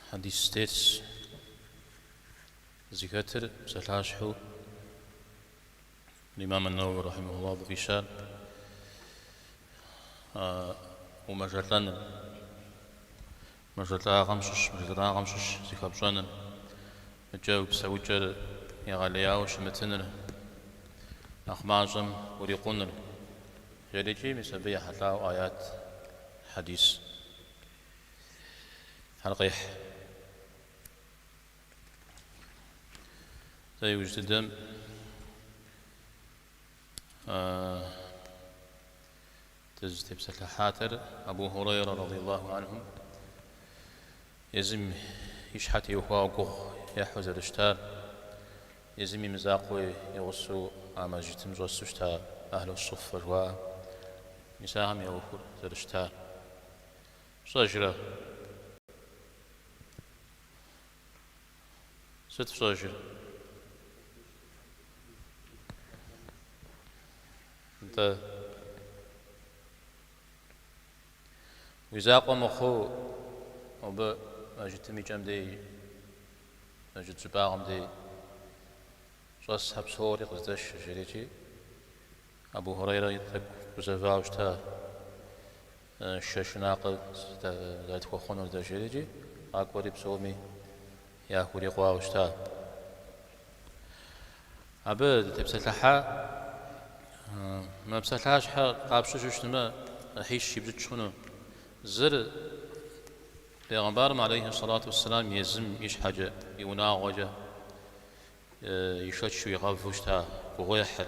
Хьэдис тетщ, зыхэтыр псалъащхьэу Имам ан-Наууи рахьимахуллаху абы къищар а умэжэлӏэныр, мэжэлӏагъэм щыщ, мэжэлӏагъэм щыщ зыхэпщӏэныр икӏэ уи псэукӏэр егъэлеяуэ щымытыныр, нэхъ мащӏэм урикъуныр, жерикӏи, мис абы ехьэлӏауэ аят, хьэдис. Хэр къехь. Дэ иужь дыдэм дызытепсэлъыхьатэр Абу Хурейрэ радийаллаху анхум езым и щхьэ теухуауэ гугъу ехьу зэрыщытар, езым и мызакъуи игъусэу а мэжджытым щӏэсу щыта Ахьлу Суффэ жыхуаӏэм исахэм я ӏуэхур зэрыщытар. пщӏэжрэ? Сыт пщӏэжыр? Нтӏэ. Уи закъуэ мыхъуу абы мэжытым и кӏэм дей, мэжыт щӏыбагъым дей щӏэсхэр псори къыздэш, жерикӏи, Абу Хурейри тӏэкӏу гузэвауэ щыта. Шэ шынакъыр зэрытхуэхъунур дэ жиӏэрикӏи, къакӏуэри псоми яхурикъуауэ щыта. Абы дытепсэлъыхьа, мы псалъащхьэ къапщтэу щытмэ, ӏыхьищ ипщӏыкӏ хъуну. Зыр Пегъэмбарым алейхи сэлату уэсселам езым и щхьэкӏэ, и унагъуэкӏэ ишэчу игъэву щыта гугъуехьыр.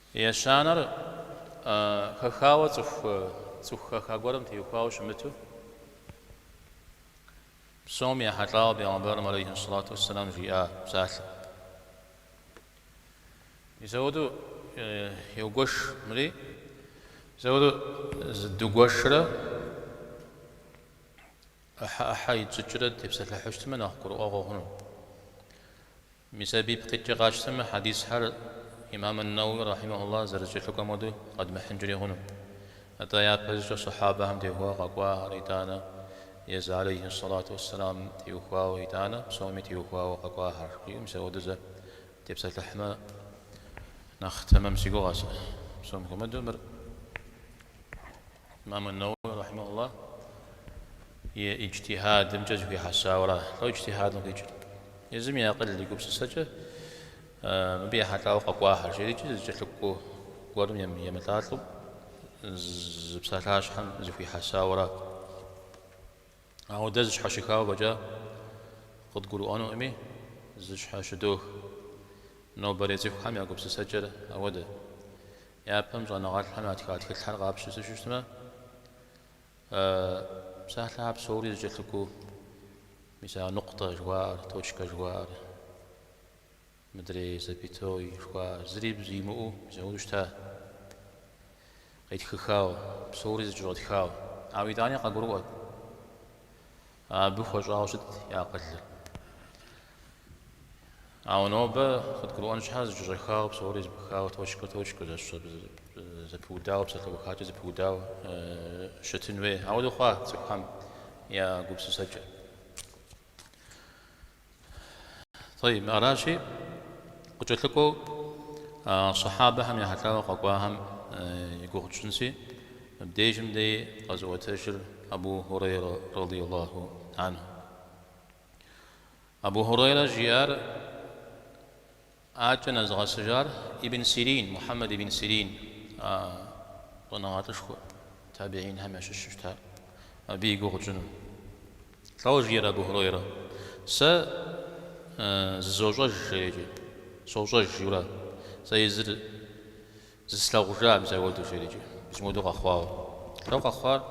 Ещанэр хэхауэ цӏыху цӏыху хэха гуэрым теухуауэ щымыту, псоми ехьэлӏауэ Пегъэмбарым алейхьэссалату уэсселам жиӏа псалъэм. Мисауду еугуэш мыри, мисауду зы дугуэшрэ ӏыхьэ-ӏыхьэ итщӏыкӏрэ дытепсэлъыхьу щытмэ нэхъ гурыӏуэгъуэ хъуну. Мис абы ипкъ иткӏэ къатщтэмэ, хьэдисхэр Имам ан-Наууи рахьимэхуллахь зэрызэкӏэлъыкӏуэм хуэдэу къэдмыхьынкӏэри хъуну. Атӏэ япэщӏыкӏэ сахьабэхэм теухуауэ къэкӏуахэр итӏанэ, езы алейхьи ссалату уэсселам теухуауэ итӏанэ, псоми теухуауэ къэкӏуахэр, мис апхуэдэу дытепсэлъыхьмэ нэхъ тэмэм си гугъэ сэ. Псом хуэмыдэу мыр. Имам ан-Наууи рахьимахулла и иджтихьадымкӏэ зэхуихьэсауэра. Лӏо иджтихьадым къикӏыр? Езым и акъыл, и гупсысэкӏэ мыбы ехьэлӏауэ къэкӏуахэр жерикӏэ, зэкӏэлъыкӏуэ гуэрым емылӏалӏэу зы псалъащхьэм зэхуихьэсауэра. Ауэ дэ зэщхьэщыхауэ фӏэкӏа къыдгурыӏуэнукъыми, зэщхьэщыдох. Нобэрей цӏыхухэм я гупсысэкӏэр ауэдэ. Япэм щӏэныгъэлӏхэм ятха тхылъхэр къапщтэу щытмэ, псалъэхэр псори зэкӏэлъыкӏуэу, мисал нукъутэ жыхуаӏэр, точкэ жыхуаӏэр, Мыдрей Запятой жыхуаӏэр зыри бзу имыӏэу зэуэдэу щыта, къетхыхауэ, псори зэкӏэщӏэтхауэ. Ауэ итӏани къагурыӏуэт, абы хуэщӏауэ щытт я акъылыр. Ауэ нобэ къыдгурыӏуэн щхьэ, зэкӏэщӏэхауэ, псори зэпыхауэ, точкэ-точкэу, зэпыудауэ, псалъэухакӏэ зэпыудауэ щытын хуей. Ауэдэу хъуа цӏыхухэм я гупсысэкӏэ. Тӏэйиб, аращи, къыкӏэлъыкӏуэу сэхьабэхэм ехьэлӏауэ къэкӏуахэм и гугъу тщӏынщи, мыбдежым дей къэзыӏуэтэжыр Абу Хурейрэ радийаллаху анху. Абу Хурейрэ жиӏар Адэкӏэ нэзыгъэсыжар Ибн Сирин, Мухьэмэд ибн Сирин, а щӏэныгъэлӏышхуэ табигьинхэм ящыщ щыта, абы и гугъу тщӏыну. Лӏо жиӏэр Абу Хурейрэ, Сэ зызощӏэж жерикӏэ, сощӏэж, жиӏэурэ, сэ езыр зыслъэгъужа мызэуэду жеӏэкӏэ, мызмыуэду къэхъуауэ. Лӏо къэхъуар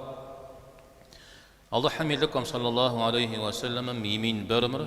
Алыхьым и Лӏыкӏуэм, сэллаллаху алейхи уэ сэллэмэм, и минбэрымрэ,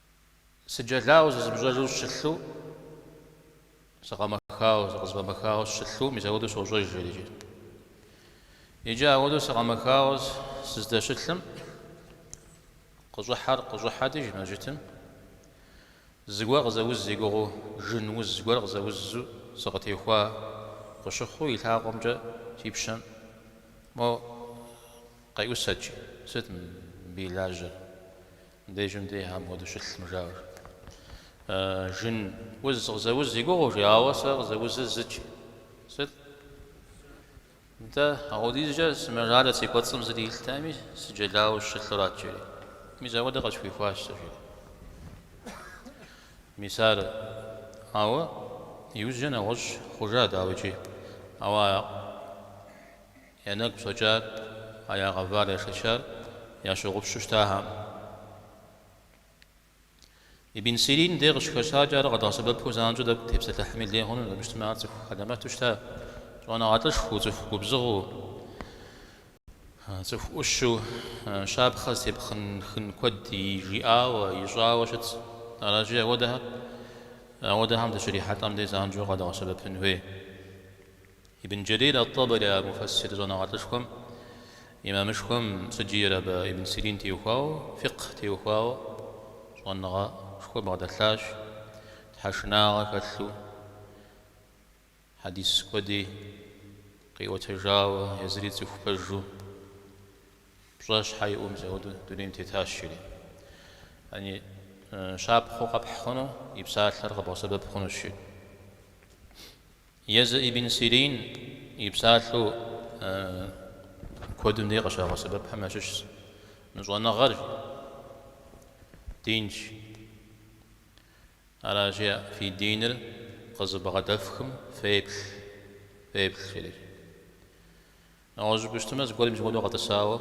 Сыджэлауэ зызмыщӏэжу сыщылъу, сыкъэмэхауэ, сыкъызэфӏэмэхауэ сыщылъу, мис ауэдэу сощӏэж жерикӏэ. Иджы ауэдэу сыкъэмэхауэ сыздэщылъым, къыщӏыхьэр къыщӏыхьэти жи мэжджытым, зыгуэр къызэуз и гугъэу жын уз гуэр къызэузу сыкъытехуа къыщыхъуу и лъакъуэмкӏэ си пщэм мо къеӏусэт жи, сыт мыбы и лажьэр, Дежым дей апхуэдэу щылъым жаӏэурэ. Жын уз къызэуз и гугъэу жи, ауэ сэ къызэузыр зыт жи. Сыт нтӏэ? Ауэдизкӏэ сымэжалӏэ си кӏуэцӏым зыри илътэкъыми, сыджэлауэ сыщылъурат жери. Мис ауэдэ къысхуихуащ сэ жери. Мис ар, ауэ иужькӏэ нэгъуэщӏ хъужа дауикӏи, ауэ Я нэгу щӏэкӏар, а я гъэвар яшэчар ящогъупщу щытахэм. Ибн Сирин де къыщыхэщакӏэ, ар къэдгъэсэбэпу занщӏэу тӏэкӏу тепсэлъыхьми лей хъуну, абы щытмэ ар цӏыху хьэлэмэту щыта, щӏэныгъэлӏышхуэу, цӏыху губзыгъэу, цӏыху ӏущу, щапхъэ зытепх хъун куэд жиӏауэ, ищӏауэ щытт. Аращи, апхуэдэхэр, апхуэдэхэм дыщрихьэлӏэм де занщӏэу къэдгъэсэбэпын хуей. Ибн Джэрир ат-Табари а муфэссир щӏэныгъэлӏышхуэм, имамышхуэм сыт жиӏэр абы ибн Сирин теухуауэ, фикъх теухуауэ щӏэныгъэшхуэ бгъэдэлъащ, тхьэшынагъэ хэлъу хьэдис куэди къиӏуэтэжауэ, езыри цӏыху пэжу, пщӏэ щхьэ иӏэу мис ауэду дунейм тетащ, жери. Щапхъэу къэпхь хъуну и псалъэр къэбгъэсэбэп хъунущ, жери. Езы ибн Сирин и псалъэу куэдым дей къыщагъэсэбэпхэм ящыщщ мы щӏэныгъэр динщ. Аращи, фи диныр къызыбгъэдэфхым феплъ, феплъ, жери. Нэгъуэщӏыпӏи щытмэ, зыгуэр мис ауэдэу къэтӏысауэ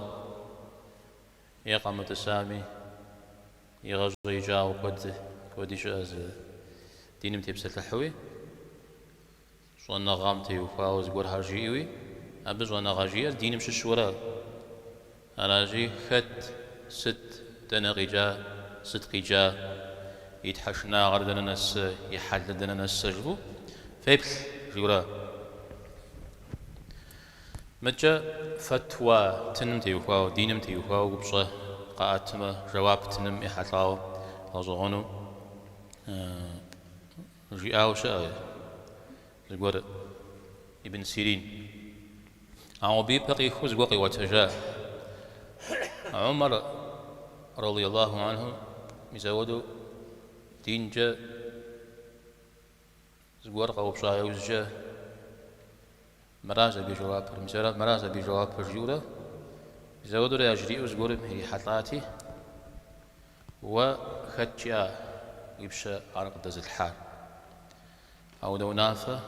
Е къэмытӏысами, игъэщӏеикӏауэ куэд куэди щыӏэ зы диным тепсэлъыхьуи, щӏэныгъэм теухуауэ зыгуэрхэр жиӏэуи, абы щӏэныгъэ жиӏэр диным щыщу ара. Аращи, хэт, сыт, дэнэ къикӏа, сыт къикӏа, и тхьэшынагъэр дэнэ нэсэ, и хьэлыр дэнэ нэсэ жыфӏэу феплъ жиӏэу ара. Мыкӏэ фэтуа тыным теухуауэ, диным теухуауэ упщӏэ къаӏэтмэ, жэуап тыным ехьэлӏауэ гъэщӏэгъуэну жиӏауэ щыӏэ зыгуэр Ибн Сирин. Ауэ абы и пэ къихуэу зыгуэр къиӏуэтэжа Умар радиаллаху анхум мис ауэдэу динкӏэ Зыгуэр къэупщӏа иужькӏэ, Мыращ абы и жэуапыр. Мис ара мыращ абы и жэуапыр, жиӏэурэ, мис ауэдурэ яжриӏэу зыгуэрым ирихьэлӏати, Уэ хэт жиӏа уи пщэ ар къыдэзылъхьар? А унэ унафэ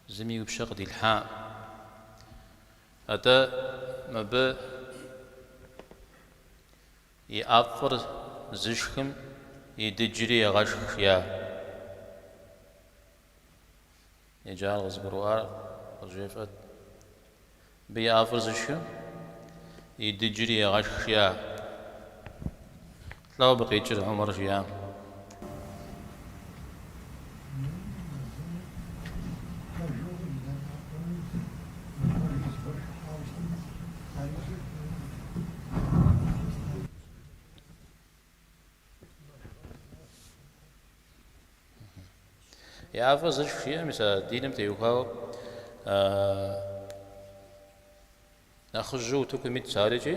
зыми уи пщэ къыдилъхьакъым. Атӏэ мыбы И ӏэфӏыр зышхым и дыджри егъэшх жиӏа? Иджы ар къызыгурыӏуар къызжефӏэт. Мыбы и ӏэфӏыр зышхым и дыджри егъэшх жиӏа? Лӏо абы къикӏыр Умар жиӏам. ӏэфӏыр зыщ жиӏэ, мис а диным теухуауэ нэхъыжьу утыкум ит сарикӏи.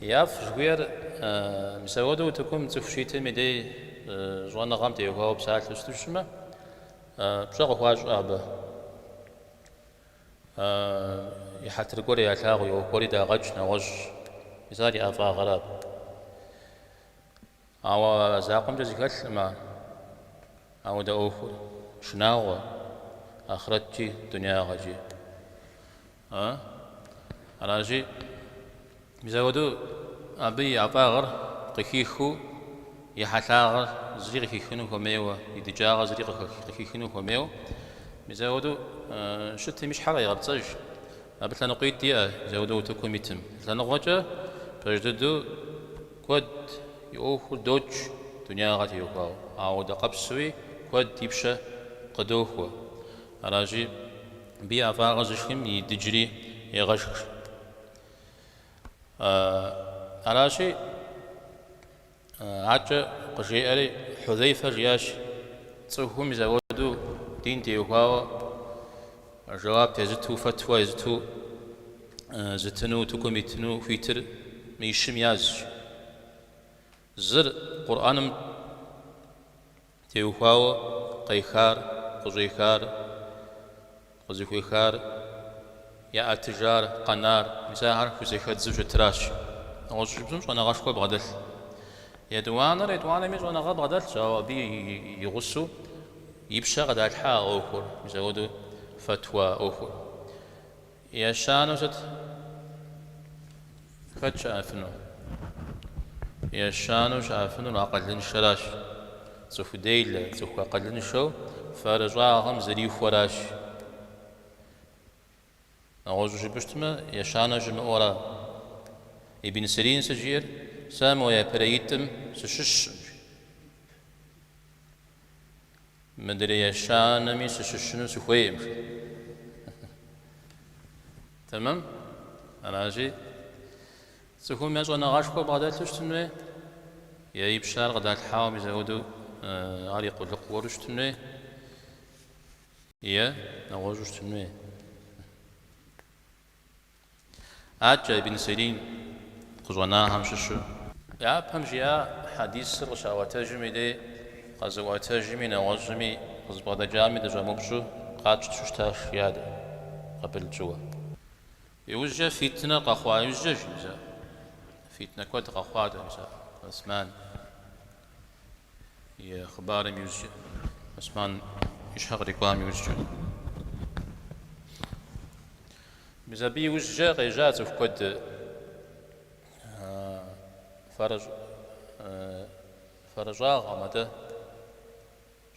И ӏэфӏ жыхуиӏэр мис ауэду утыкум цӏыху щитым и дей щӏэныгъэм теухуауэ псалъэу сыту щытмэ, пщӏэ къыхуащӏэ абы. И хьэтыр гуэр ялъагъу, и ӏуэху гуэри дагъэкӏ, нэгъуэщӏщ. Мис ар и ӏэфӏагъыращ. Ауэ закъуэмкӏэ зыхэлъкъым ар. Ауэдэ ӏуэху шынагъуэ, ахърэткӏи, дунягъэкӏи. А? Аращи, мис ауэду абы и ӏэфӏагъыр къыхихыу, и хьэлъагъыр зыри къыхихыну хуэмейуэ, и дыджагъыр зыри къыхихыну хуэмейуэ, мис ауэду щытым и щхьэр къегъэпцӏэж. Абы лъэныкъуитӏ иӏэ, мис ауэду утыкум итым. Лъэныкъуэкӏэ пэж дыдэу Куэд и ӏуэхур докӏ дунягъэ теухуауэ, ауэдэ къабзэуи куэд и пщэ къыдохуэ. Аращи, мыбы и ӏэфӏагъыр зышхым и дыджри егъэшх. Аращи, аркӏэ къыжеӏэри, Хьузэйфэ жиӏащ, Цӏыхум мис ауэду дин теухуауэ, Жэуап езыту, фэтуэ езыту зытыну утыкум итыну хуитыр мы щым язщ. Зыр, Къурӏэным теухуауэ къехар, къыщӏехар, къызыхуехар, яӏэтыжар, къэнар, мис ахэр хузэхэдзу щытыращ. Нэгъуэщӏу жыпӏыщтмэ щӏэныгъэшхуэ бгъэдэлъ. Етӏуанэр етӏуанэми щӏэныгъэ бгъэдэлъщ, ауэ абы и гъусэу, И пщэ къыдалъхьа а ӏуэхур, мис-ауэду фэтуа ӏуэхур ещанэу сыт? Хэт щыӏэфыну? Ещанэу щыӏэфынур акъылыншэращ. Цӏыху делэ, цӏыху акъылыншэу фэрыщӏагъым зрихуэращ. Нэгъуэщӏу жыпӏыщтмэ, ещанэ щымыӏэу ара? Ибн Сирин сыт жиӏэр? Сэ мо япэрейитӏым сыщыщщ. Мыдрей ещанэми сыщыщыну сыхуейм, жи. Тэмэм? Аращи, цӏыхум е щӏэныгъэшхуэ бгъэдэлъу щытын хуей, е и пщэ ар къыдалъхьауэ мис ауэду ар и къулыкъу гуэру щытын хуей, е нэгъуэщӏу щытын хуей. Аткӏэ Ибн Сирин къыщӏэнахэм щыщщ. Япэм жи а хьэдисыр къыщаӏуэтэжым и дей къэзыӏуэтэжми нэгъуэщӏми къызыбгъэдэкӏами дыщӏэмыупщӏу къатщту щытащ жи дэ, къабыл тщӏыуэ. Иужькӏэ фитнэ къэхъуа иужькӏэ жи, мис а фитнэ куэд къэхъуат Осман. И хъыбарым иужькӏэ, Осман и щхьэ кърикӏуам иужькӏэ. Мис абы иужькӏэ къежьа цӏыху куэд фэрыщӏагъым, атӏэ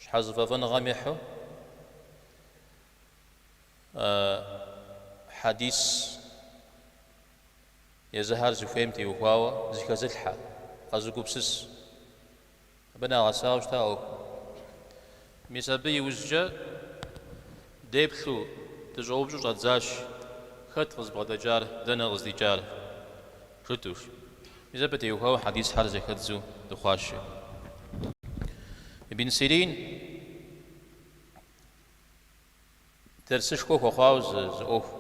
щхьэзыфӏэфӏыныгъэм ехьу хьэдис Езыхьэр зыхуейм теухуауэ зыхэзылъхьэ, къэзыгупсыс. Абы нагъэсауэ щыта ӏуэхур. Мис абы иужькӏэ деплъу дыщӏэупщӏу щӏэдзащ, Хэт къызбгъэдэкӏар, дэнэ къыздикӏар? жытӏу жи. Мис абы теухуауэ хьэдисхьэр зэхэдзу дыхъуащ жи Ибн Сирин. Дэрсышхуэ хуэхъуауэ зы ӏуэху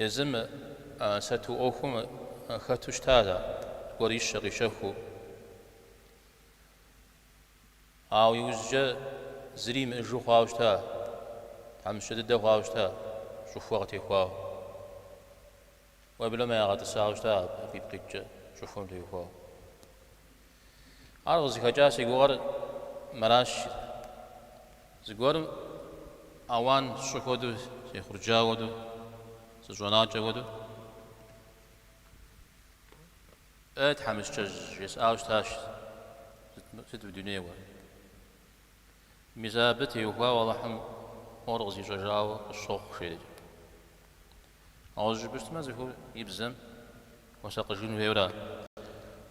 езым а сату ӏуэхум хэту щыта ар гуэр ищэ къищэхуу. Ауэ иужькӏэ зыри имыӏыжу хъуауэ щыта, тхьэмыщкӏэ дыдэ хъуауэ щыта, щӏыхуэ къытехуауэ. Уеблэмэ ягъэтӏысауэ щыта абы ипкъ иткӏэ щӏыхуэм теухуауэ. Ар къызыхэкӏа си гугъэр мэращ жи. Зыгуэрым ауан сщӏы хуэдэу, сехъурджауэ хуэдэу, сыщӏэнакӏэ хуэдэу, Ей, тхьэмыщкӏэжь, жесӏауэ щытащ, сыт мы дунейр уэ? Мис абы теухуауэ Алыхьым мор къызищӏэжауэ къысщохъу, жи аткӏэ. Гъуэщӏу жыпӏэщтмэ, цӏыхур и бзэм хуэсакъыжын хуейуэра?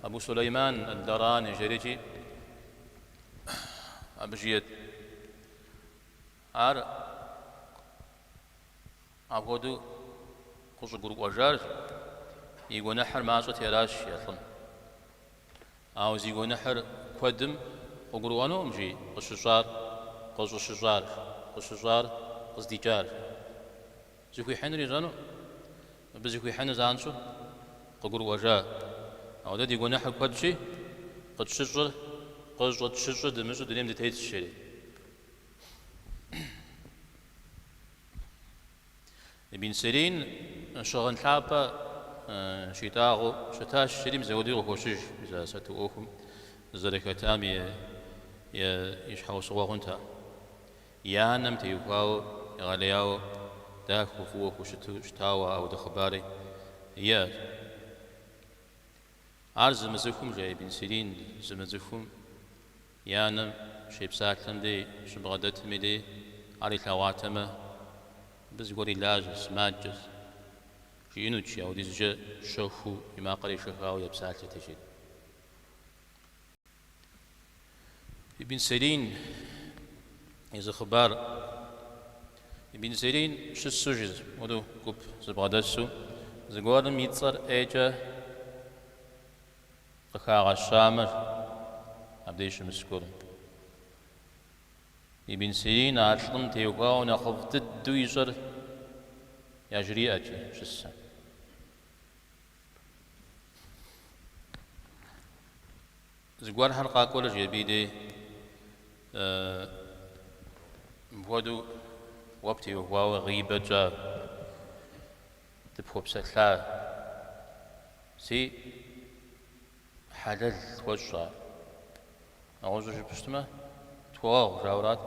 Абу Сулейман ад-Дарани жери икӏи абы жиӏэт. Ар апхуэдэу къыщӏыгурыӏуэжар и гуэныхьыр мащӏэти аращ а лӏым. Ауэ зи гуэныхьыр куэдым къыгурыӏуэнукъым жи къыщыщӏар, къыщӏыщыщӏар, къыщыщӏар, къыздикӏар. Зыхуихьынур ищӏэну, мыбы зыхуихьынур занщӏэу къыгурыӏуэжа? Ауэ дэ ди гуэныхьыр куэдщи, къытщыщӏыр, къыщӏытщыщӏыр дымыщӏу дунейм дытетщ, жери. Ибн Сирин щыгъын лъапӏэ щитӏагъэу щытащ, жери мис апхуэдэуи къыхощыж мис а сату ӏуэхум зэрыхэтам и щхьэусыгъуэ хъунт ар. И анэм теухуауэ, егъэлеяуэ, дахэу, фӏыуэ хущыту щытауэ ауэдэ хъыбари иӏэт. Ар зымыцӏыхум, жаӏэ Ибн Сирин, зымыцӏыхум и анэм щепсалъэм дей щыбгъэдэтым и дей ар илъэгъуатэмэ, Абы зыгуэр и лажьэщ, сымаджэщ, жиӏэнутщи, аудизкӏэ щэхуу и макъыр ешэхауэ епсалъэти, жиӏэрт. Ибн Сирин и зы хъыбар. Ибн Сирин щысу жызмуру гуп зыбгъэдэсу, зыгуэрым и цӏэр ӏейкӏэ къыхагъэщамэ, абдеж щымыс гуэрым. Ибн Сирин а лӏым теухуауэ нэхъыфӏ дыдэу ищӏэр яжриӏэкӏи щысэ. Зыгуэрхэр къакӏуэрэ икӏи абы и дей мыпхуэдэу уэ птеухуауэ гъибэ тщӏа, дыпхуэпсэлъащи, хьэлэл тхуэщӏ. Нэгъуэщӏу жыпӏэщтмэ, тхуэгъэгъу жаӏэу арат.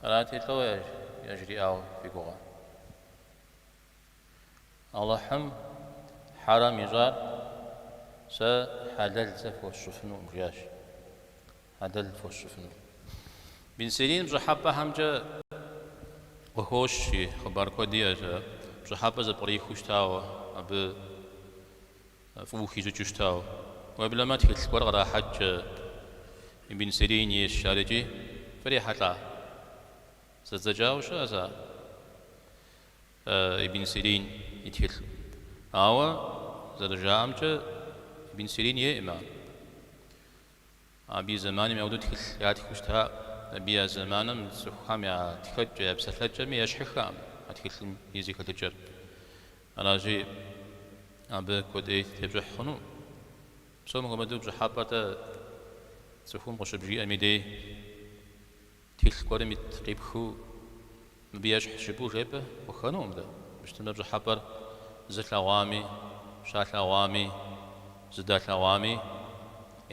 Арати, лӏо яжриӏауэ фи гугъэ? Алыхьым хьэрэм ищӏар, Сэ хьэлэл зэи фхуэсщӏыфынукъым, жиӏащ. Хьэлэл фхуэсщӏыфынукъым. Ибн Сирин пщӏыхьэпӏэхэмкӏэ къыхощи, хъыбар куэд иӏэщ ар, пщӏыхьэпӏэ зэпкърихыу щытауэ, абы фӏыуэ хищӏыкӏыу щытауэ. Уеблэмэ тхылъ гуэр кърахьэкӏкӏэ Ибн Сирин ейщ ар икӏи, фрихьэлӏа? Зэдзэкӏауэ щыӏэщ ар. Ибн Сирин и тхылъ. Ауэ, зэрыжаӏэмкӏэ, Ибн Сирин ейӏым ар. Абы и зэманым ауэдэу тхылъ ятхыу щытаӏым. Абы я зэманым цӏыхухэм я тхэкӏэ, я псалъэкӏэми ещхьыххэкъым а тхылъым и зэхэлъыкӏэр. Аращи, абы куэди тепщӏыхь хъуну? Псом хуэмыдэу пщӏыхьэпӏэ-тӏэ цӏыхум къыщыбжиӏэм и дей. Тхылъ гуэрым ит къипхыу мыбы ещхьщ жыпӏэу жепӏэ хъуххэнукъым дэ. Мыщтэмэ пщӏыхьэпӏэр зылъэгъуами, щалъэгъуами, зыдалъэгъуами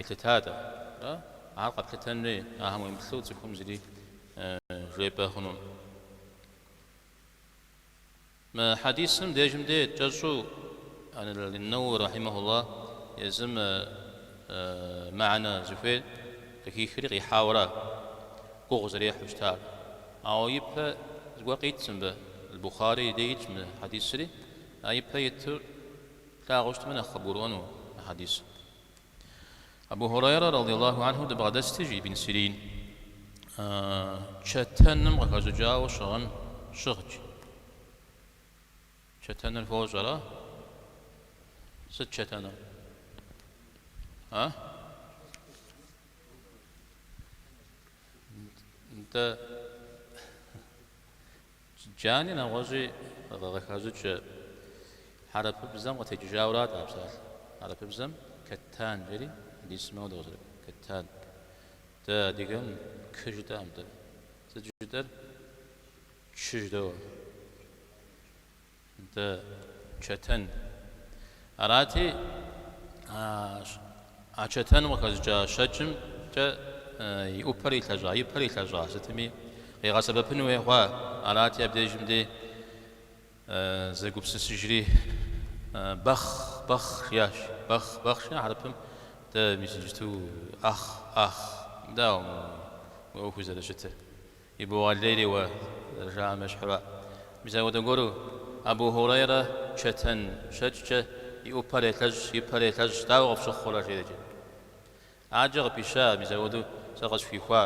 елъытатэ. Ар къэплъытэнри, ахэм уемыплъу цӏыхум зыри жепӏэ хъунукъым. Мы хьэдисым дежым де кӏэщӏу ан-Нэуауи рахьимэхуллах езым мэхьэнэ зыхуейр къыхихри къихьауэра гугъу зэрехьу щытар. Ауэ ипэ зыгуэр къитщ мыбы, Аль-Бухари и де итщ мы хьэдисри, а ипэ итыр плъагъуу щытмэ нэхъ къыбгурыӏуэну а хьэдисыр. Абу Хурайрэ радияллаху анху дыбгъэдэсти, жи Ибн Сирин, чэтэным къыхэщӏыкӏауэ щыгъын щыгът. Чэтэныр фощӏэрэ? Сыт чэтэным? А? Нтӏэ. Джани нэгъуэщӏи къыхащӏыкӏ, хьэрыпыбзэм къытекӏыжауэ арат а псалъэр. Хьэрыпыбзэм Кэттан жери дисмэу дыкъызэрыӏуэм, Кэттан. Дэ адыгэм Кы жытӏэкъым, дэ сыт жытӏэр? Чы жыдоӏэ. Дэ чэтэн. Арати, а чэтэным къыхэщӏыкӏа щэкӏымкӏэ и ӏупэр илъэщӏа, и пэр илъэщӏа сытми къигъэсэбэпын хуей хъуа. Арати, абдежым дей зэгупсысыжри, Бэхъ! Бэхъ! жиӏащ. Бэхъ! Бэхъ! жиӏа хьэрыпым дэ мис иджыту Ӏэхъ! Ӏэхъ! Дауэ мыгъуи? Уи ӏуэхуи зэрыщытыр? Ибогъэлейри уэ, зэрыжаӏэм ещхьу ара? Мис апхуэдэ гуэру? Абу Хьурейрэ чэтэн щэкӏкӏэ и ӏупэр елъэщӏ, и пэр елъэщӏ, дауэ къыфщыхъурэ? жери икӏи адэкӏэ къыпища, мис апхуэдэу сэ къысхуихуа,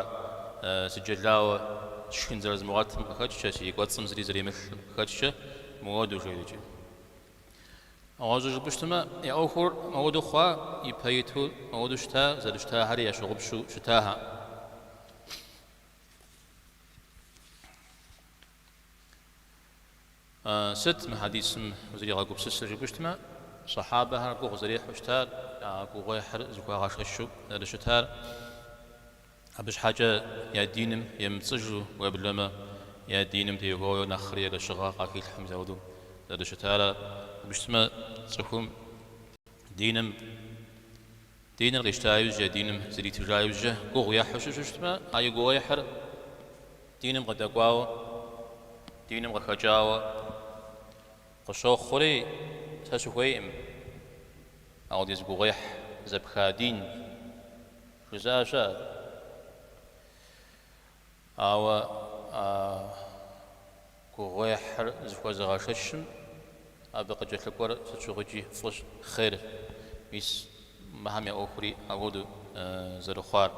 сыджэлауэ сшхын зэрызмыгъуэтым къыхэкӏкӏэ, си кӏуэцӏым зыри зэримылъым къыхэкӏкӏэ мыуэду, жери икӏи нэгъуэщӏу жыпӏэу щытмэ, я ӏуэхур мыуэду хъуа, ипэ иту мыуэду щыта, зэрыщытахэри ящыгъупщу щытахэкъым. Сыт мы хьэдисым узригъэгупсысыр жыпӏэу щытмэ, сэхьабэхэр гугъу зэрехьу щытар, я гугъуехьыр зыхуагъэшэщу зэрыщытар, абы щхьэкӏэ я диным емыпцӏыжу, уеблэмэ я диным теухуауэ нэхъри ерыщыгъэ къахилъхьэм заудыу зэрыщытар. Жыпӏэу щытмэ, цӏыхум диным Диныр къищта иужькӏэ я диным зритыжа иужькӏэ гугъу ехьу щы щытмэ, а и гугъуехьыр диным къыдэкӏуауэ, диным къыхэкӏауэ къыщохъури, сэ сыхуейкъым апхуэдиз гугъуехь зэпха дин жызыӏэ щыӏэ. Ауэ а гугъуехьыр зыхуэзыгъэшэщым абы къыкӏэлъыкӏуэр сыт щыгъуикӏи фӏыщ, хъер. Мис мыхэм я ӏуэхури апхуэдэу зэрыхъуар.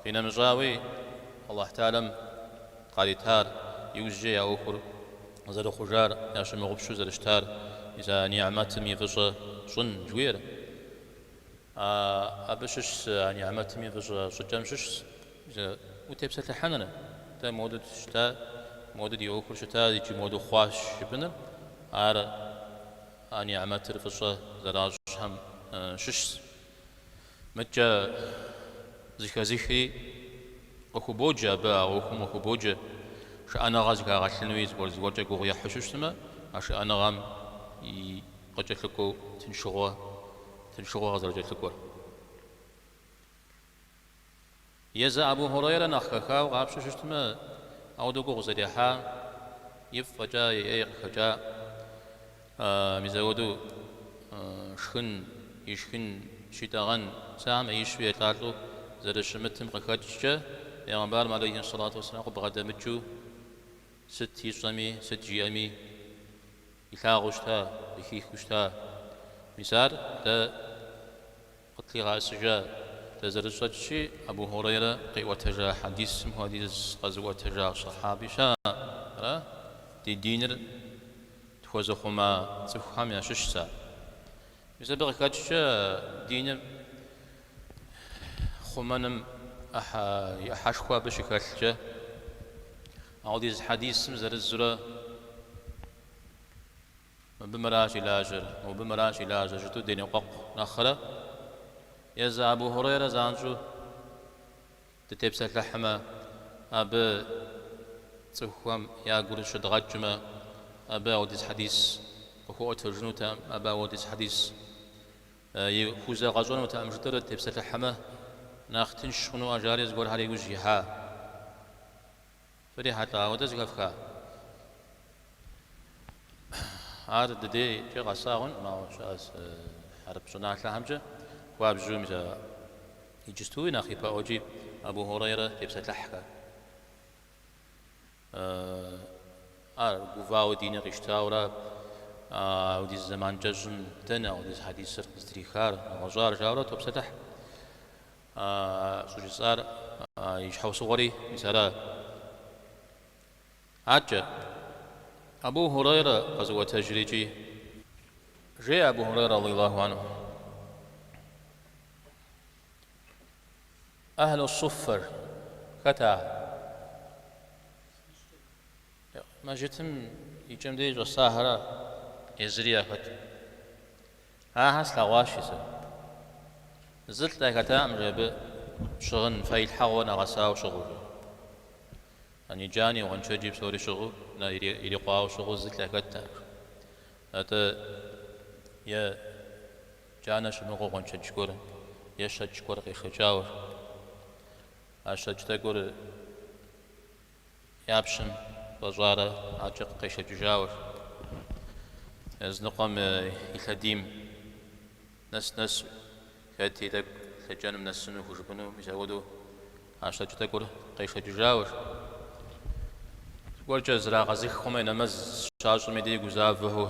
Къинэмыщӏауи, Алыхь Тэӏалэм къаритар, иужькӏэ я ӏуэхур зэрыхъужар, ящымыгъупщэу зэрыщытар, мис а ни'мэтым и фӏыщӏэ щӏын жыхуиӏэр? А абы щыщщ а нигьмэтым и фӏыщӏэ щӏыкӏэм щыщщ утепсэлъыхьыныр. Дэ моуэдэу дыщыта, моуэдэу ди ӏуэхур щыта икӏи моуэдэу дыхъуащ жыпӏыныр, ар а нигьмэтыр фӏыщӏэ зэращӏхэм щыщщ. Мыдкӏэ зыхэзыхри къыхубоджэ абы, а ӏуэхум къыхубоджэ шыӏэныгъэ зыхагъэлъынуи, зыгуэр-зыгуэркӏэ гугъу ехьу щыщтмэ, а шыӏэныгъэм и Къыкӏэлъыкӏуэу тыншыгъуэ, тыншыгъуэ къызэрыкӏэлъыкӏуэр. Езы Абу Хьурейрэ нэхъ хэхауэ къапщу щыщтмэ, ауэдэу гугъу зэрехьа, ифӏ фӏэкӏа и ӏей къыхэкӏа, мизэуэду шхын, ишхын щитӏэгъэн сымэ ӏеищу елӏалӏэу зэрыщымытым къыхэкӏкӏэ, Пэйгъэмбарым алейхи ссалату уэсселам къыбгъэдэмыкӏыу сыт ищӏэми, сыт жиӏэми, Илъагъуу щыта, зыхихыу щыта. Мис ар дэ къытлъигъэӏэсыжа? Дэ зэрытщӏэмкӏи, Абу Хьурейрэ къиӏуэтэжа хьэдисым хуэдиз къэзыӏуэтэжа сэхьаби щыӏэкъым. Ди диныр тхуэзыхъума цӏыхухэм ящыщ за. Мис абы къыхэкӏкӏэ диныр Хъумэным и ӏыхьэшхуэ абы щыхэлъкӏэ, ауэдиз хьэдисым зырызурэ мыбы мыращ и лажьэр, мыбы мыращ и лажьэр жытӏу деныкъуэкъу нэхърэ, езы Абу Хурейрэ занщӏэу дытепсэлъыхьмэ, абы цӏыхухэм я гур щыдгъэкӏмэ, абы ауэдиз хьэдис къыхуэӏуэтэжынутэкъым, абы ауэдиз хьэдис И хузэгъэщӏэнутэкъым жытӏэрэ дытепсэлъыхьмэ, нэхъ тынш хъуну жаӏэри зыгуэрхэр иужь ихьа. Фрихьэлӏа ауэдэ зыхэфха? Ар ди дейкӏэ къэсагъэнкъым, ауэ щыӏэ хьэрып щӏыналъэхэмкӏэ хуабжьу мис а иджыстуи нэхъ ипэӏуэкӏи Абу Хьурайрэ тепсэлъыхьхэ. Ар гувауэ дини къищтауэ ара? Ауэдиз зэман кӏэщӏым дэнэ ауэдиз хьэдисыр къыздрихар, нэгъуэщӏар? жаурэ топсэлъыхь. Щӏыжысӏар и щхьэусыгъуэри мис ара? Адкӏэ, Абу Хьурайрэ къэзыӏуэтэжри икӏи жеӏэ Абу Хьурайрэ, радиаллаху анху. Ахьлу суффэр, хэт ар? Мэжытым и кӏэм дей щӏэсахэра езыри яхэт. Ахэр слъэгъуащи сэ. Зы лӏы яхэтакъым жи абы щыгъын фэилъхьэгъуэ нэгъэсауэ щыгъыу жи. Яни джани, гъуэншэджи псори щыгъыу, нэ ирикъуауэ щыгъыу зы лӏы яхэтакъым. Атӏэ е Джанэ щымыгъыу гъуэншэдж гуэр е щэкӏ гуэр къешэкӏауэ а щэкӏ тӏэкӏур я пщэм фӏэщӏарэ аркӏэ къешэкӏыжауэ языныкъуэм и лъэдийм нэс-нэсу, хэти тӏэкӏу лъэкӏэным нэсыну хужыпӏэну мис ауэдэу а щэкӏ тӏэкӏур къешэкӏыжауэ зыгуэркӏэ зрагъэзых хъумэ, и нэмэз щащӏми ди гузавэу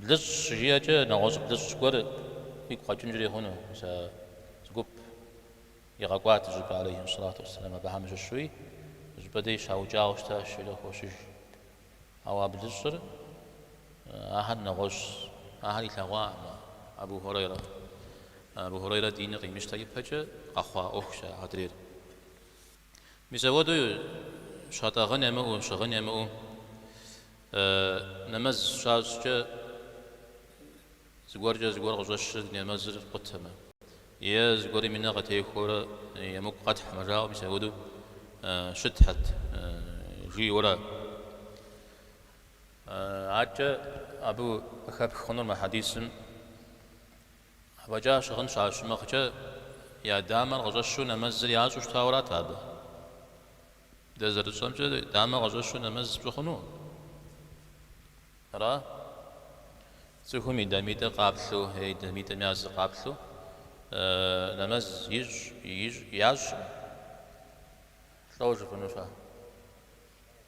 Блыщӏ щыжиӏэкӏэ нэгъуэщӏ блыщӏ гуэр игу къэкӏынкӏэри хъуну, мис а зы гуп игъэкӏуат щӏыпӏэ алейхьи ссалату уэсселам, абыхэм щыщуи щӏыпӏэ деж щаукӏауэ щытащ икӏи къыхощыж. Ауэ а блыщӏыр ахэр нэгъуэщӏщ, ахэр илъэгъуакъым. Абу Хурейрэ. Абу Хурейрэ диныр къимыщтэ ипэкӏэ къэхъуа ӏуэхущ а адрейр. Мис апхуэдэу щатӏэгъэн ямыӏэу, щыгъын ямыӏэу нэмэз щащӏкӏэ зыгуэркӏэ зыгуэр къыщӏэщыр нэмэзыр къутэмэ, е зыгуэрым и нэ къытехуэурэ емыкӏу къэтхьмэ жаӏэу, мис апхуэдэу щытхэт жиӏэурэ. Аркӏэ абы къыхэпх хъунур мы хьэдисым. Фӏэкӏа щыгъын щащымыгъкӏэ, я дамэр къыщӏэщу нэмэзыр ящӏу щытауэ арат абы. Дэ зэрытщӏэмкӏэ, дамэ къыщӏэщу нэмэз пщӏы хъуну? Ара? Цӏыхум и дамитӏыр къаплъу, е и дамитӏым я зы къаплъу нэмэз ищӏ, ящӏ, лӏо жыпӏэнущ ар.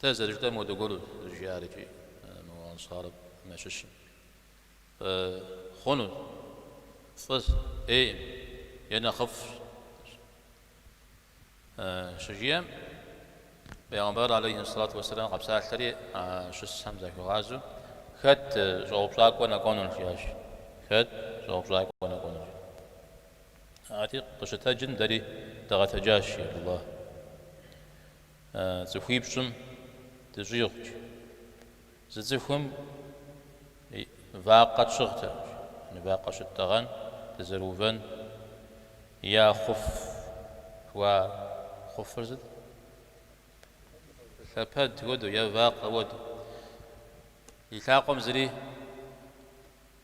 Дэ зэрыжытӏэм хуэдэ гуэру жиӏар икӏи мы Ансарым щыщым. Хъуну, фӏыщ, ӏейм е нэхъыфӏщ. Щыжиӏэм, Пэйгъэмбар алейхи сэлату уэсэлам къэпсалъэри а щысхэм захуигъазэу, Хэт щӏэупщӏакӏуэ нэкӏуэнур? жиӏащ. Хэт щӏэупщӏакӏуэ нэкӏуэнур? Арати, къыщытэджым дэри дыгъэтэджащ, жи Абдулла. цӏыхуипщӏым дыщӏигъукӏ, зы цӏыхуми вакъэ тщыгътэкъым, вакъэ щыттӏэгъэн дызэрыувэн е хъуф, уа хъуфыр сыт? Лъэпэд хуэдэу е вакъэ хуэдэу. И лъакъуэм зыри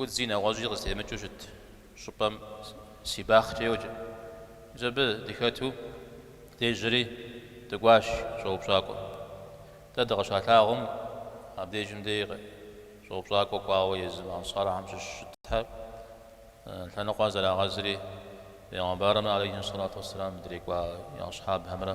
Удзи нэгъуэщӏи къызытемыкӏыу щыт щӏыпӏэм Сибахъкӏэ йоджэ. Мис абы дыхэту дежьэри дыкӏуащ щӏэупщӏакӏуэ. Дэ дыкъыщалъагъум, абдежым дей щӏэупщӏакӏуэ кӏуауэ езым Ансархэм щыщ щытхэр, лъэныкъуэ зрагъэзри, пэйгъэмбарымрэ алейхьи сэлату уэсселам дэкӏуа асхьабхэмрэ.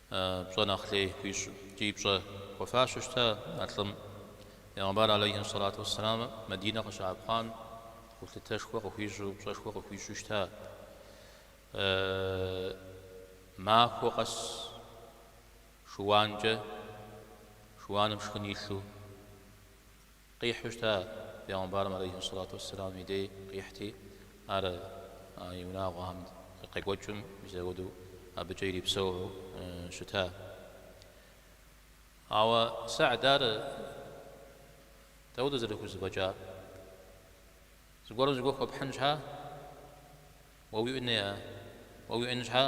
Пщӏэ нэхъ лей хуищӏ икӏи пщӏэ хуэфащэу щыта а лӏым. Пегъэмбар алэйхьи сэлату уэсселам Мадинэ къыщаӏэпхъуам гулъытэшхуэ къыхуищӏу, пщӏэшхуэ къыхуищӏу щыта. Махуэ къэс шыуанкӏэ, шыуаным шхын илъу, Къихьу щыта Пегъымбарым алейхи сэлату уэсселам и дей къихьти, ар и унагъуэхэм къекӏуэкӏым мис апхуэдэу абыкӏэ ирипсэуу щыта. Ауэ Сагьд ар дауэт зэрыхузэфӏэкӏа? Зыгуэрым зыгуэр хуэпхьын щхьа, уэ уиӏэн щхьа?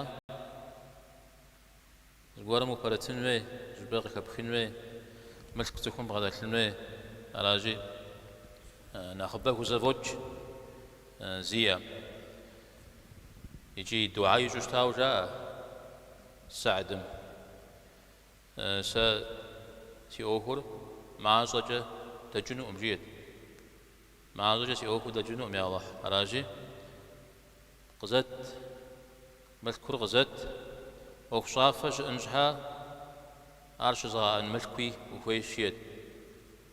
Зыгуэрым упэрытын хуей, щӏыпӏэ къыхэпхын хуей, мылъку цӏыхум бгъэдэлъын хуей, аращи, нэхъыбэ хузэфӏокӏ зиӏэм. Икӏи дуӏа ищӏу щытауэ жаӏэ Сагьдым, Сэ си ӏуэхур мащӏэкӏэ дэкӏынукъым, жиӏэт. Мащӏэкӏэ си ӏуэхур дэкӏынукъым, я Алыхь, аращи, Къызэт, мылъкур къызэт. ӏуэхущӏафэ щыӏэн щхьа, ар щызыгъэӏэн мылъкуи ухуей жиӏэт.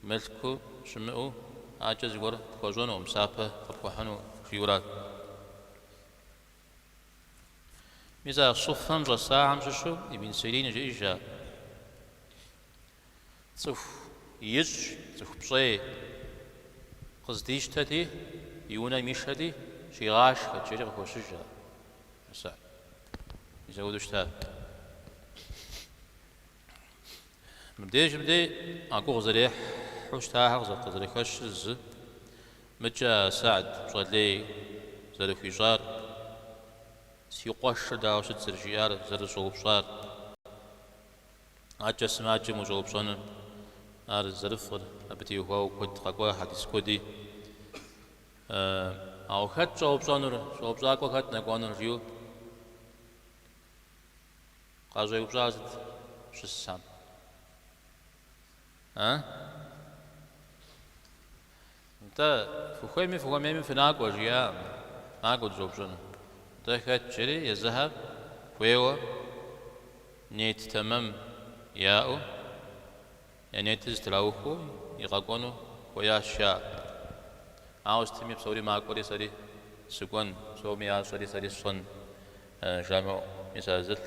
Мылъку щымыӏэу акӏэ зыгуэр пхуэщӏэнукъым, псапэ къыпхуэхьыну жиӏэу арат. Мис а Суффэм щӏэсахэм щыщу Ибн Сирин жиӏэжа. Цӏыху ищӏ, цӏыху пщӏей. Къыздищтэти, и унэм ишэти, щигъашхэт жери къыхощыж. А Сагьд мис апхуэдэу щыта. Мыбдежым дей а гугъу зэрехьу щытахэр къызэрыхэщыр зы, мыкӏэ а Сагьд пщӏэ лей зэрыхуищӏар, си къуэшыр дауэ щыт зэрыжиӏар, зэрыщӏэупщӏар. Акӏэ сымаджэм ущӏэупщӏэныр ар зэрыфӏыр, абы теухуауэ куэд къэкӏуа хьэдис куэди. Ауэ хэт щӏэупщӏэнур, щӏэупщӏакӏуэ хэт нэкӏуэнур жиӏэу къащӏеупщӏар сыт щысам? А? Нтӏэ, фыхуейми фыхуэмейми фынакӏуэ, жиӏакъым. Накӏуэ дыщӏэупщӏэну. Нтӏэ хэт жери езыхэр хуейуэ нет тэмэм яӏэу, я нетыр зытраухуэу и къэкӏуэну хуеящ жаӏэ. Ауэ сытми псори макӏуэри сэри сыкӏуэн, псоми ящӏэри сэри сщӏэн жамыӏэу, мис а зылӏ.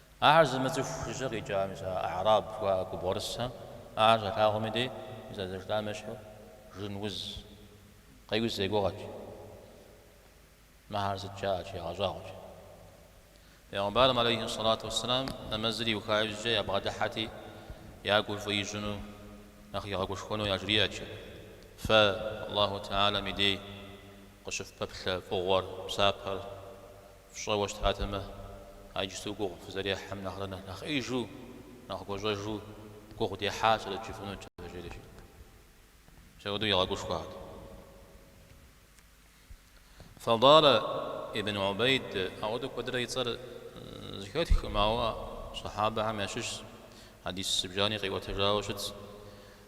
Ахэр зымыцӏыху жыжьэ къикӏа мис а А'раб жыхуаӏэ губгъуэрысэм, ахэр щалъагъум и дей, мис а зэштам ещхьу жын уз къеуз я гугъэт жи. Мыхэр сыт жаӏэт жи, ягъэщӏагъуэт жи. Пэйгъэмбарым алейхи сэлату уэсселам нэмэзыр иуха иужькӏэ ябгъэдыхьэти, я гур фӏы ищӏыну, нэхъ игъэгушхуэну яжриӏэт жи. Фэ, Аллаху Теалэм и дей, къыщыфпэплъэ фӏыгъуэр, псапэр. Фщӏэуэ щытатэмэ, а иджыпсту гугъу фызэрехьэм нэхърэ нэхъ ӏеижу, нэхъ гуащӏэжу гугъу дехьащэрэт жыфӏэнут, жери мис апхуэдэу игъэгушхуат. Фадала ибн Убейд ауэдэу куэдрэ и цӏэр зыхэтхкъым, ауэ Сахьабэхэм ящыщщ, хьэдис зыбжани къиӏуэтэжауэ щытщ.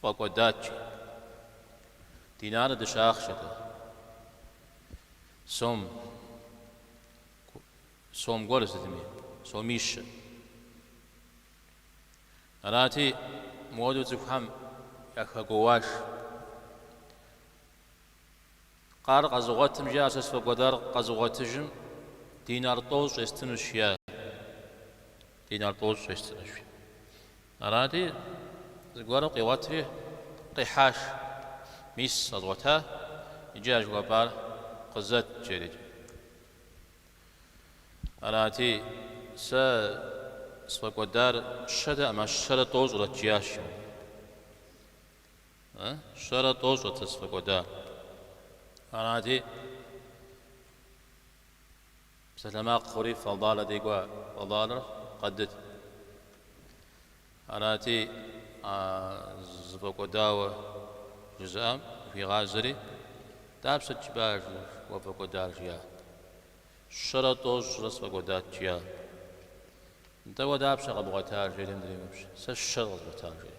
Фӏэкӏуэдат жи. Динарэ дыщэ ахъшэт ар. Сом. Сом гуэр сытми, сомищэ. Арати, мыуэду цӏыхухэм яхэгуоуащ. Къар къэзыгъуэтым, жиӏащ, сэ сфӏэкӏуэдар къэзыгъуэтыжым динар тӏощӏ естынущ, жиӏа. Динар тӏощӏ естынущ. Арати, зыгуэрым къигъуэтри къихьащ, мис къэзгъуэта, иджы а жыхуэпӏар къызэт, жери. Арати, сэ сфӏэкӏуэдар щэтэкъым, щэрэ тӏощӏрэт, жиӏащ ар. Э, щэрэ тӏощӏрэт сэ сфӏэкӏуэдар. Арати, Псалъэмакъ хъури Фадала дей кӏуа, Фадалар къадыт. Арати, а зыфӏэкӏуэдауэ жызыӏам зыхуигъазэри, Дапщэт жыпӏа уэ пфӏэкӏуэдар? жиӏат. Щэрэ тӏощӏрэ сфӏэкӏуэдат, жиӏат. Нтӏэ уэ дапщэ къэбгъуэтар? жери адрейм еупщӏ. Сэ щэр къэзгъуэтар, жери.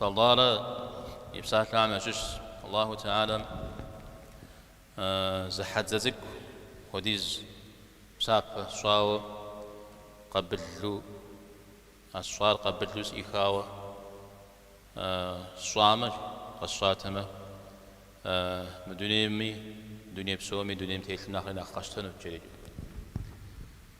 Фадала и псалъэхэм ящыщщ Аллаху Теалэм зы хьэдзэ цӏыкӏу хуэдиз псапэ сщӏауэ къабылу, а сщӏар къабылу сӏихауэ сщӏамэ, къэсщӏатэмэ, мы дунейми, дуней псоми, дунейм телъым нэхъри нэхъ къэсщтэнут, жери.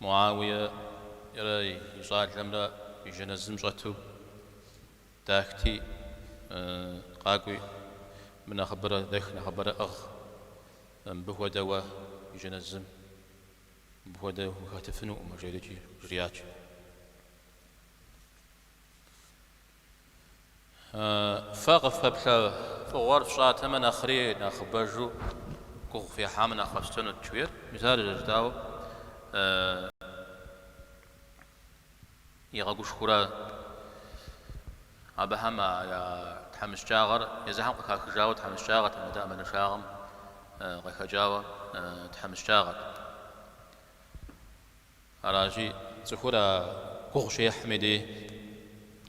Муауиерэ и щӏалэмрэ и жэназым щӏэту дахти, къакӏуи, мы нэхъыбэрэ дэх, нэхъыбэрэ ӏыгъ, мыбы хуэдэ уэ и жэназым, мыбы хуэдэ ухэтыфынукъым, жери жриӏат. Фэ къыфпэплъэ фӏыгъуэр фщӏатэмэ, нэхъри нэхъыбэжу гугъу къыхуихьамэ, нэхъ къэфщтэнут, жиӏэр. Мис ар зэщӏэкӏауэ игъэгушхуэурэ абыхэм я тхьэмыщкӏагъэр езыхэм къыхахыжауэ тхьэмыщкӏагъэтэм, атӏэ ӏэмалыншагъэм къыхэкӏауэ тхьэмыщкӏагъэт. Аращи, цӏыхур а гугъу щехьым и дей,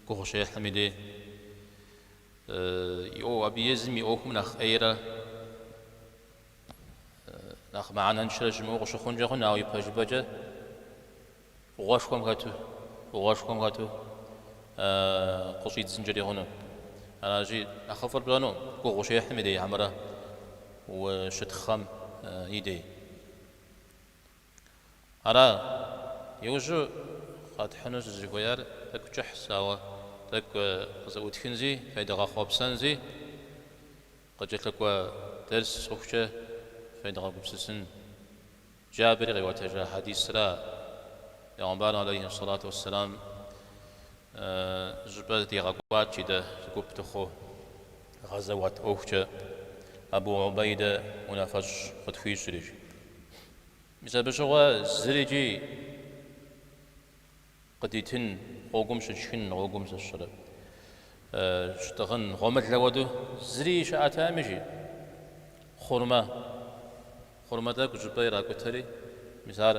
гугъу щехьым и дей, и ӏуэху, абы езым и ӏуэхум нэхъ ӏейрэ нэхъ мыхьэнэншэрэ щымыӏэу къыщыхъункӏэ хъун, ауэ ипэжыпӏэкӏэ фӏыгъуэшхуэм хэту, фӏыгъуэшхуэм хэту къыщӏидзынкӏэри хъуну. Аращи, нэхъыфӏыр пщӏэнукъым, гугъу щехьым и дей хьэмэрэ ущытхъэм и дей. Ара, иужьу къэтхьыну сызыхуеяр? Тӏэкӏу кӏыхьщ, ауэ тӏэкӏу къызэӏутхынзи, федгъэхъуэпсэнзи, къыкӏэлъыкӏуэ дерс хъухукӏэ федгъэгупсысын. Джабыри къиӏуэтэжа хьэдисра, Пэйгъэмбарым алейхьи сэлату уэсселам щӏыпӏэ дигъэкӏуат, жи, дэ, зыгуп дыхъуу, гъэзэуат ӏуэхукӏэ Абу Убейдэ унафэщӏ къытхуищӏри, жи. Мис абы щыгъуэ зырикӏи къыдитын, гъуэгум щытшхын, гъуэгум зыщыры щытӏыгъын, гъуэмылэ хуэдэу зыри щыӏэтэӏым, жи, хъурмэ, хъурмэ тӏэкӏу щӏыпӏэ иракӏутэри, мис ар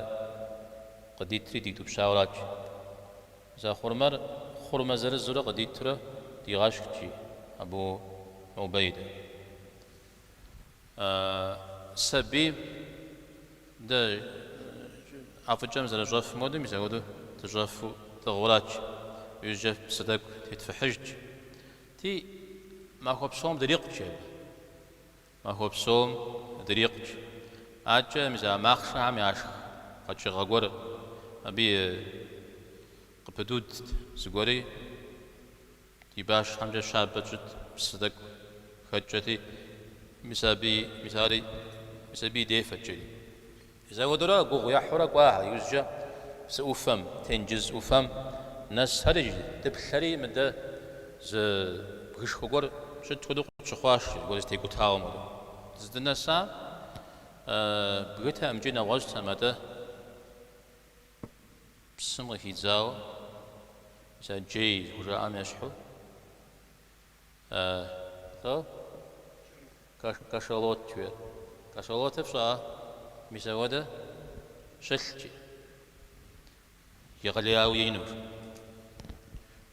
къыдитри дитӏупщауэрат, жи. Мис а хъурмэр хъурмэ зырызурэ къыдитурэ дигъэшхт, жи, Абу Убейдэ. А сабийм дэ ӏэфӏыкӏэм зэрыщӏэфым хуэдэу мис апхуэдэу дыщӏэфу тӏыгъурат, жи, иужькӏэ псы тӏэкӏу тетфыхьыжти, махуэ псом дрикъут, жи, абы. Махуэ псом дрикъут, жи. Адэкӏэ мис а махъшэхэм яшх къэкӏыгъэ гуэр абы къыпыдудт зыгуэри. Ди башхэмкӏэ щабэ тщӏыт псы тӏэкӏу хэткӏэти, мис абы, мис ари мис абы дефэт, жи. Мис апхуэдэурэ гугъу ехьурэ кӏуахэ, иужькӏэ псы ӏуфэм, тенджыз ӏуфэм нэсхэри, дыплъэри мыдэ зы бгышхуэ гуэр щыт хуэдэу къытщыхъуащ, зыгуэр зэтекӏутауэм хуэдэу. Дыздынэсам бгытэӏым, жи, нэгъуэщӏтэм, атӏэ. Псым къыхидзауэ мис а джей зыхужаӏэм ещхьуэ кашалот жиӏэр. Кашалотыр фщӏа мис ауэдэ щылът, жи, егъэлеяуэ инур.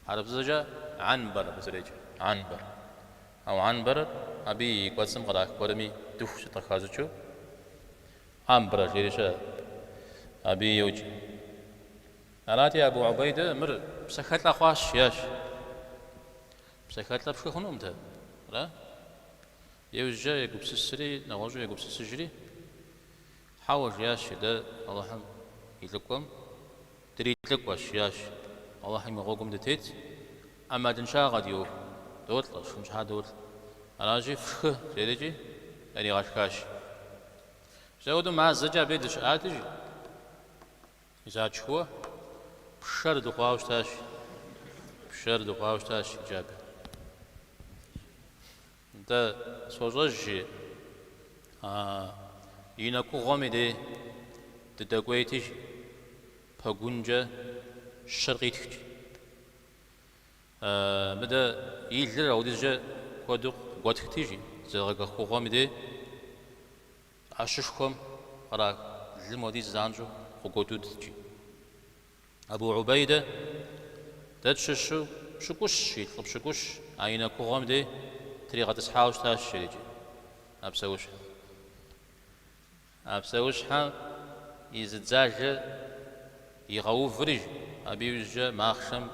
Хьэрыпзэкӏэ анбар абы зэреджэр, анбар. Ауэ анбарыр абы и кӏуэцӏым кърах гуэрми дыху сыт къыхащӏыкӏыу Амбра жери щыӏэщ, абы йоджэ. Арати, Абу Убейдэ мыр псэхэлӏэ хъуащ, жиӏащ. Псэхэлӏэ пшхы хъунукъым дэ, ара? Иужькӏэ егупсысри, нэгъуэщӏу егупсысыжри, Хьэуэ, жиӏащ дэ Алыхьым и лӏыкӏуэм, Дрилӏыкӏуэщ, жиӏащ. Алыхьым и гъуэгум дытет, ӏэмалыншагъэ ди ӏуэху. Долӏэ, шхын щхьа долӏэ. Аращи, фшхы, жери, жи, яригъэшхащ, жи. Ауэдэу мазэкӏэ абы дыщыӏат, жи, ар тшхыуэ, пшэр дыхъуауэ щытащ. Пшэр дыхъуауэ щытащ жи Джабир. Нтӏэ, сощӏэж, жи, а и нэкугъуэм и дей дыдэкӏуейти, пэгункӏэ щэр къитхт, жи. Мыдэ и лыр ауэдизкӏэ куэду къыгуэтхти, жи, зэдгъэкӏыххугъуэм и дей ӏэщышхуэм кърах лым хуэдиз занщӏэу къыгуэдудт, жи. Абу Убейдэ дэ тщыщу пщыкӏущ, жи, лӏы пщыкӏущ, а и нэкугъуэм дей тригъэтӏысхьауэ щытащ иджырыкӏи. А псэущхьэ. А псэущхьэм и зы дзажэ игъэуври, абы иужькӏэ махъшэм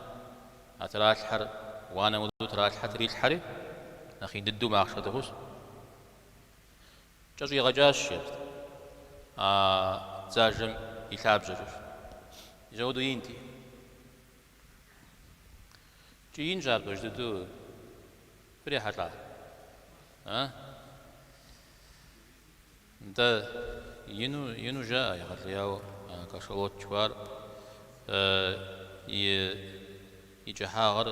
а тралъхьэр уанэ мыдэу тралъхьэ, трилъхьэри, нэхъ ин дыдэу махъшэ диӏыгъыу, жи. Кӏэщӏигъэкӏащ, жеӏэрт а дзажэм и лъабжьэкӏэ, жи. Ауэдэу инти, икӏи инщ ар пэж дыдэу фрихьэлӏа, а? Нтӏэ, ину, ину жаӏэ, егъэлеяуэ а кашалот жыхуаӏэр и, и кӏыхьагъыр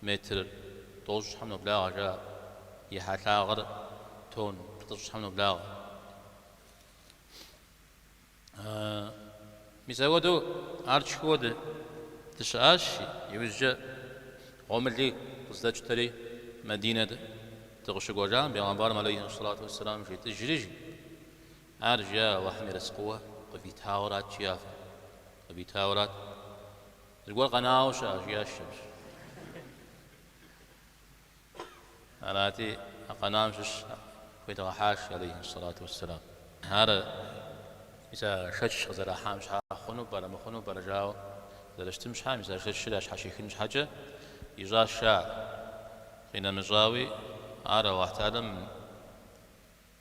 Метр тӏощӏ щхьэм ноблагъэ жаӏэ. И хьэлъагъыр тонн плӏыщӏ щхьэм ноблагъэ. Мис апхуэдэу ар тшхыуэ дыщыӏащ, иужькӏэ гъуэмыли къыздэтщтэри, Мадинэ дыкъыщыкӏуэжам Бегъэмбарым алейхи ссалату уэсселам жетӏэжри жи, ар жиӏэ Алыхьым ерыскъыуэ къывитауэрат жиӏащ, фэ, къывитауэрат. Зыгуэр къэнауэ щыӏэ, жиӏащ Шэмс. Арати, а къэнам щыщ худигъэхьащ алейхи сэлату уэсселам. Ар мис а шэч къызэрахьам щхьа хъуну пӏэрэ, мыхъуну пӏэрэ жауэ зэрыщытым щхьа, мис а шэчыр ящхьэщихын щхьэкӏэ ищӏащ, ищӏаа, къинэмыщӏауи, ар Аллахьталэм,